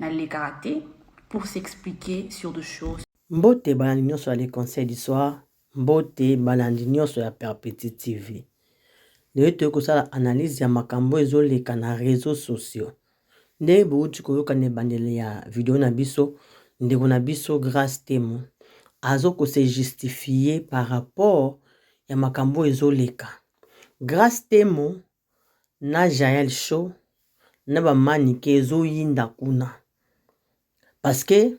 nalekaka te pour s'expliquer sur de choses mbote balandi nyonso ya le conseil du soir mbote balandi nyonso ya perpeti tv lelo toyei kosala analyse ya makambo ezoleka na réseau sociaux ndenge bouti koyoka na ebandeli ya video na biso ndeko na biso grace temo azo kose justifie par rapport ya makambo ezoleka grace temo na jael show na ba manike ezoyinda kuna parce que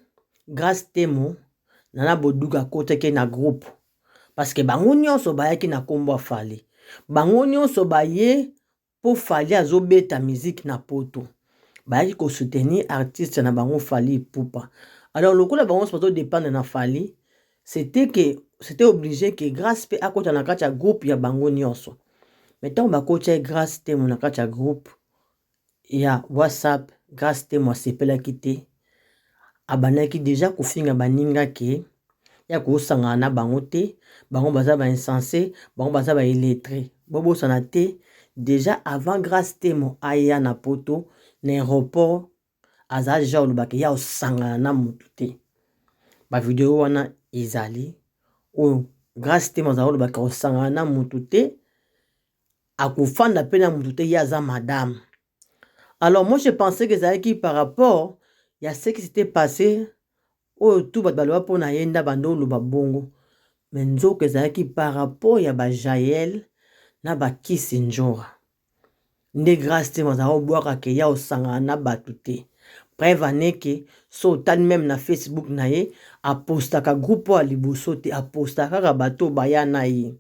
grace temo nana boduga akotaki na groupe parce que bango nyonso bayaki na nkombo ya fali bango nyonso baye mpo fali azobeta miziki na poto bayaki kosoutenir artiste na bango fali epupa alors lokola bango nyonso bazodependre na fali C'etait que c'etait oblige que Grace pe akota na kati ya groupe ya bango nionso. Mais tango bakotya ye Grace Temo na kati ya groupe ya WhatsApp, Grace Temo asepelaki te. Abandaki deja kofinga baninga ke ya kosangana na bango te, bango baza ba insense, bango baza ba illettre. Bobosana te deja avant Grace Temo aya na poto na aéroport azala deja koloba ke ya osangana na mutu te ba video wana ezali oyo grace temo azala koloba ke osangana na mutu te akofanda mpe na mutu te ye aza madame alors moi je pensais que ezalaki par rapport ya ce qui s'était passé Oyo tout bato baloba pona ye nde abanda oloba bongo mais nzoka ezalaki par rapport ya ba jael na ba kisi ndjora nde grace temo azalaka obwaka ke ya osangana na bato te preuve en est ke so otali meme na facebook na ye apostaka groupe oyo ya liboso te apostaka kaka bato oyo baya na ye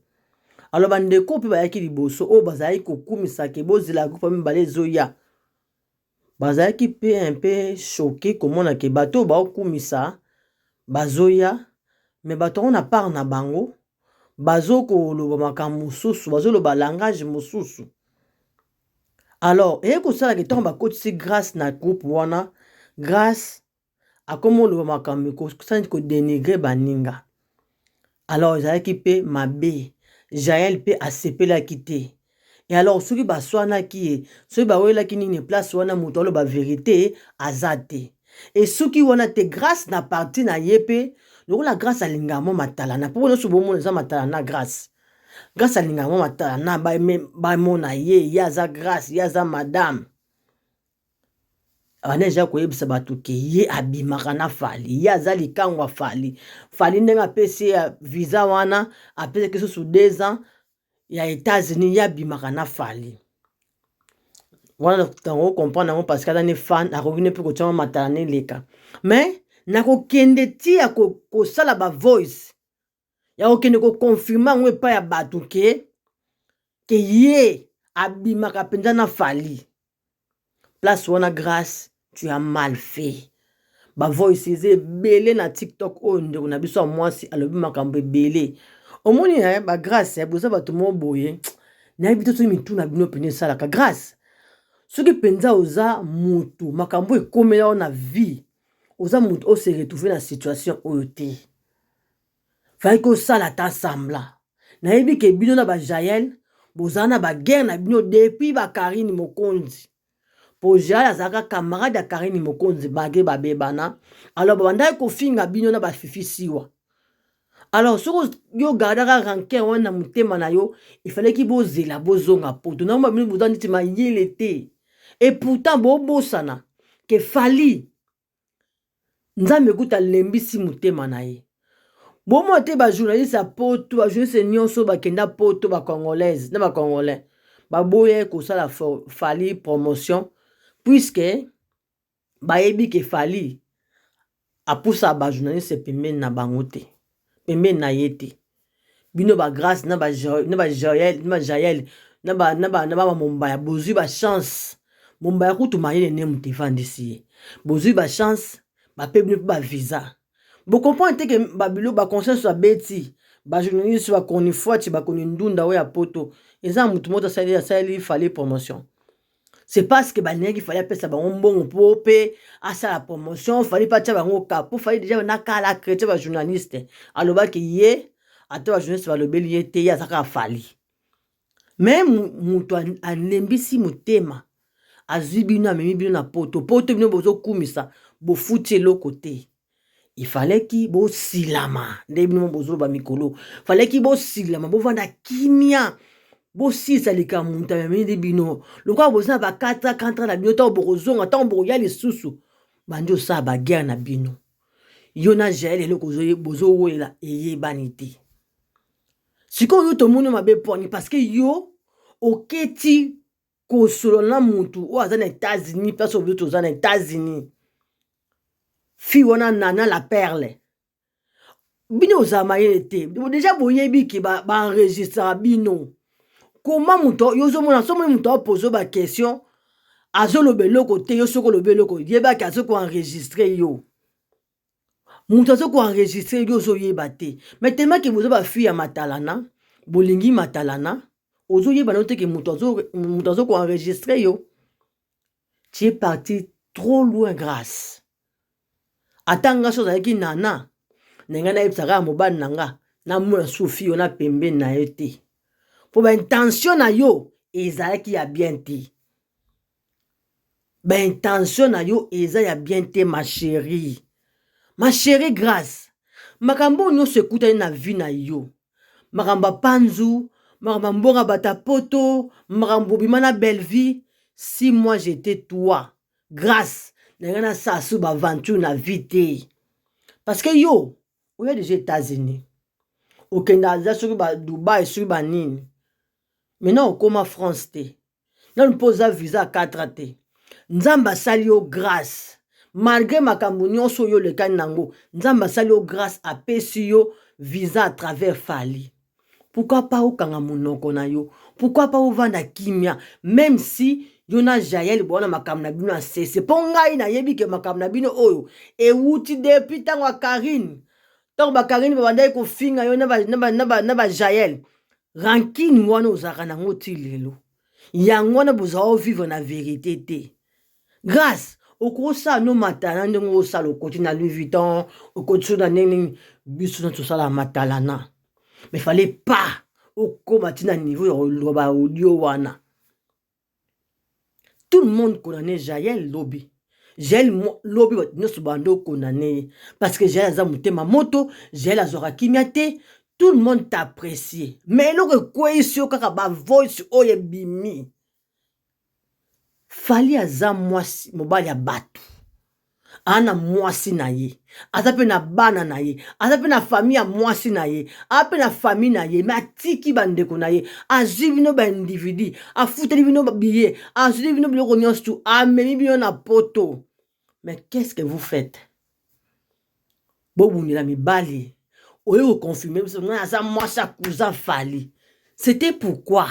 alors bandeko oyo mpe bayaki liboso oyo bazalaki kokumisa ke bozela groupe ya mibale ezoya bazalaki pe un pe choque komona ke bato oyo bao kumisa bazoya me bato yango na part na bango bazo koloba makambo mosusu bazoloba langage mosusu alors eye kosalaka ntango bakotisi grace na groupe wana grace akoma oloba makambo kosani kodenigre baninga alors ezalaki mpe mabe jael mpe asepelaki te e alors soki baswanaki ye soki bawelaki nini place wana moto aloba verite aza te esuki wana te grâce na parti na ye mpe lokola grâce alingaka mwa matalana mpo nyonso bomona eza matalana grâce grâce alingaka mwa matalana bamona ye ye aza grâce ye aza madame abandi deja koyebisa bato ke ye abimaka na fali ye aza likangwa fali fali ndenge apesi ye visa wana apesaki susu deux ans ya etats-unis ye abimaka na fali wana tango okomprendre yango parce que aza ne fan akoki ne mpe kotyama matala neleka mais nakokende ti ya kosala ba voice ya kokende koconfirme yango epai ya bato ke ke ye abimaka mpenza na fali place wana grace tu as mal fait bavoice eza ebele na tiktok oyo ndeko na biso ya mwasi alobi makambo ebele omoni eh, bagrace eh, boza bato moko boye nayebi te soki mitu na bino mpenza esalaka grace soki mpenza oza motu makambo ekomela yo na vie oza motu ose retrouve na situation oyo te Fallait kosala ata semblant. Nayebi ke bino na ba Jael bozala na ba guerre na bino depuis ba Karine Mokonzi. Po Jael azalaka camarade ya Karine Mokonzi bage babebana. Alors babandaki kofinga bino na ba Fifi Siwa. Alors soko yo gardaka rancœur wana na motema na yo, il fallait ki bozela bozonga poto. Na mwa bino boza neti mayele te. Et pourtant bobosana ke Fally nzambe kuta alembisi motema na ye bomona te bajournaliste ya poto bajournaliste nyonso bakenda poto bacongolaise na bacongolais baboya ye kosala fali promotion puiske bayebi ke fali apusa bajournaliste pembeni na bango te pembeni na ye te bino ba grace na ba na ba jael na ba jael na ba na ba na ba mombaya bozui ba chance mombaya kutu mayele ne moto efandisi ye bozui ba chance bape bino mpe ba visa bocomprendre te ke babilo ba conscience babeti ba journaliste ba chronifuati ba chroni ndunda oyo ya poto eza moto moto asali asali fale promotion c'est parce que balingaki fali apesa bango mbongo mpo mpe asala promotion fali mpe atya bango ka mpo fali deja na kala acrete bajournaliste alobaki ye ata bajournaliste balobeli ye te ye aza kaka fali me moto alembisi motema azwi bino amemi bino na poto poto bino bozokumisa bofuti eloko te il fallait ki bosilama nde bino bozoloba mikolo fallait ki bosilama bovanda kimia bosilisa likambo moto amemi nde bino lokola boza na bakatra kantra na bino ntango bokozonga ntango bokoya lisusu bandi osala baguerre na bino yo na jael eloko bozowelela eyebani te sikoyo yo tomoni mabe poni parceke yo oketi kosolola na motu oyo aza na etats-unis place oyo toza na etats-unis fille wana nana la perle bino ozala mayele te deja boyebi ke baenregistraka ba bino koma moto yo ozomona somoni moto apozo baquestion azoloba eloko te yo soki olobi eloko yebaki azoki koenregistre yo moto aza koenregistre yo ozoyeba te mai temake boza bafi ya matalana bolingi matalana ozoyeba na yo teke moto aza koenregistre yo tie parti trop loin grace ata nga so ozalaki nana na ngai nayebisaka ya mobali na nga namona sufi yo na pembeni na ye te mpo baintention na yo ezalaki ya bien te ba intention na yo eza ya bien te ma cherie ma cherie grace makambo oyo nyonso ekutani na vie na yo makambo ya panzu makambo ya mbongo ya bato ya poto makambo bobima na bellevue si moi jete toi grace na lingi nasala su ba aventure na vie te parce que yo oya deja etats-unis okenda aza soki ba dubai soki ba nini maintenant okoma france te nanu mpo oza visa ya 4 a te nzambe asali yo grâce malgré makambo nyonso oyo olekani na yango nzambe asali yo grâce apesi yo visa à travers fali pourkui pa okanga monoko na yo pourkui pa ovanda kimia meme si yo na jael bowana makambo na bino ya sese mpo ngai nayebi ke makambo na bino oyo ewuti depuis ntango ya karine ntango bakarine babandaki kofinga yo na bajael ba, ba, ba, ba, ba, ba, ba, ba, ba, ba, rankine wana ozalaka nango ti lelo yango wana bozala ovivre na verite te grace okosala no matalana ndenge osala okoti na louis vuitton okoti so na ndenge nini biso na tosala matalana mais fale pa okóma ti na niveau ya koloba audio wana Tout le monde condamne Jael lobi. Jael lobi bato nyonso bande okondane ye parce que Jael aza motema moto, Jael azwaka kimia te, tout le monde t'apprecie. Mais eloko ekweyisi yo kaka ba voice oyo ebimi. Fally aza mwasi mobali ya bato. aza na mwasi na ye aza mpe na bana na ye aza mpe na fami ya mwasi na ye aza mpe na fami na ye me atiki bandeko na ye azwi bino baindividu afuteli bino biye azwili bino biloko nyonso tu amemi bino na poto me qu'est-ce que vous faites bobundela mibali oye koconfirme biso ngai aza mwasi ya cousin fali c'était pourquoi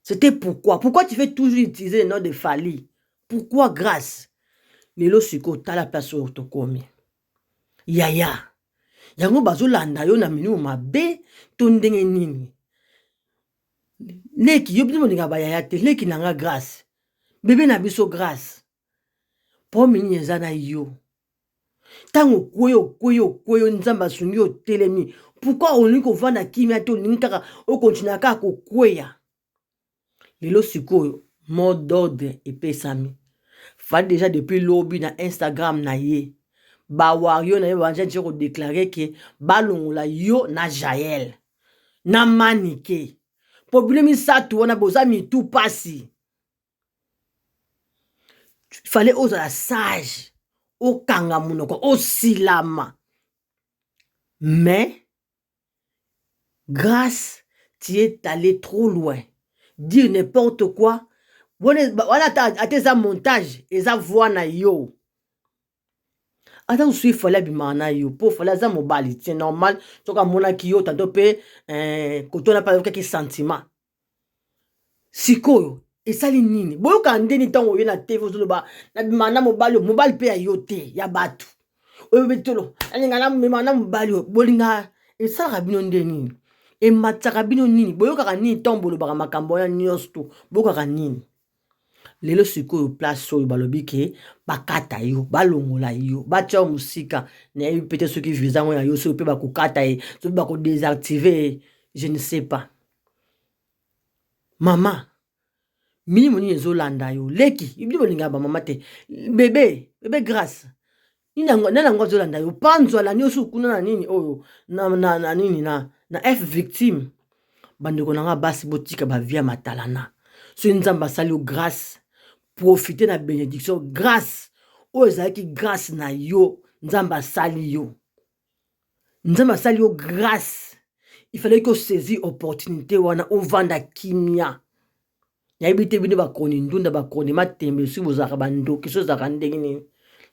C'était pourquoi Pourquoi tu fais toujours utiliser le nom de Fali Pourquoi grâce Lelo siko tala place oyo tokomi. Yaya. Yango bazolanda yo na minu mabe to ndenge nini? Leki yo bino bolinga ba yaya te. Leki na nga grâce. Bebe na biso grâce. Problème nini eza na yo? Ntango okwei okwei okwei yo nzambe asungi yo otelemi pourkui olingi kovanda kimia te olingi kaka okontinua kaka kokweya lelo sikoyo mot d'ordre epesami fali deja depuis lobi na instagram na ye bawario na ye babanja nje kodeklare ke balongola yo na jael na manike po bino misato wana boza mitu mpasi fale ozala sage okanga monoko osilama mais grâce tu es allé trop loin dire n'importe quoi wana ata eza montage eza voix na yo ata mosusu ifale abimaka na yo mpo fale aza mobali c'est normal soki amonaki yo tanto mpe eh, kotona mpe ayokaki sentiment sikoyo esali nini boyoka ndeni ntango oye na tv ozoloba nabimaka na mobali oyo mobali mpe ya yo te ya bato oyo betolo alinga namema na mobali oyo bolinga esalaka bino nde nini ematisaka bino nini boyokaka nini ntango bolobaka makambo wana nyonso to boyokaka nini lelo sikoyo place oyo balobi ke bakata yo balongola yo batya yo mosika nayebi mpe te soki visa yango ya yo soki mpe bakokata ye soki bakodesactive ye je ne sais pas mama milimo nini ezolanda yo leki ibili bolingaka bamama te bebe bebe grace nani yango azolanda yo panzwa na niosi okuna na nini oyo na, na, na nini na, na f victime bandeko na nga basi botika bavia matalana soki nzambe asali yo grâce profite na benediction grâce oyo ezalaki grâce na yo nzambe asali yo nzambe asali yo grace il fallait que osaisir opportunité wana ovanda kimia nayebi te bino bakoni ndunda bakoni matembe soki bozalaka bandoki soki ozalaka ndenge nini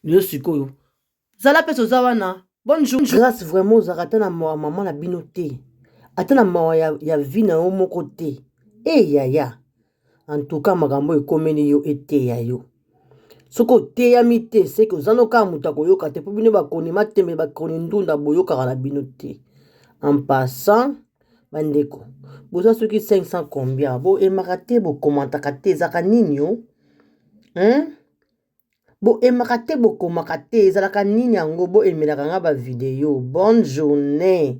lelo sikoyo zala mpesa oza wana bonjour grace vraiment ozalaka ata na mawa mama na bino te ata na mawa ya, ya vi na yo moko te eyaya eh, hey, en tout cas makambo oyo ekomeli yo eteya yo soki oteyami te seke oza no kaka moto akoyoka te mpo bino bakoni matembe bakoni ndunda boyokaka na bino te en passant bandeko boza soki 500 combien boyemaka te bokomantaka te ezalaka nini o hein? boyemaka te bokomaka te ezalaka nini yango boyemelaka nga bavideo bonne journée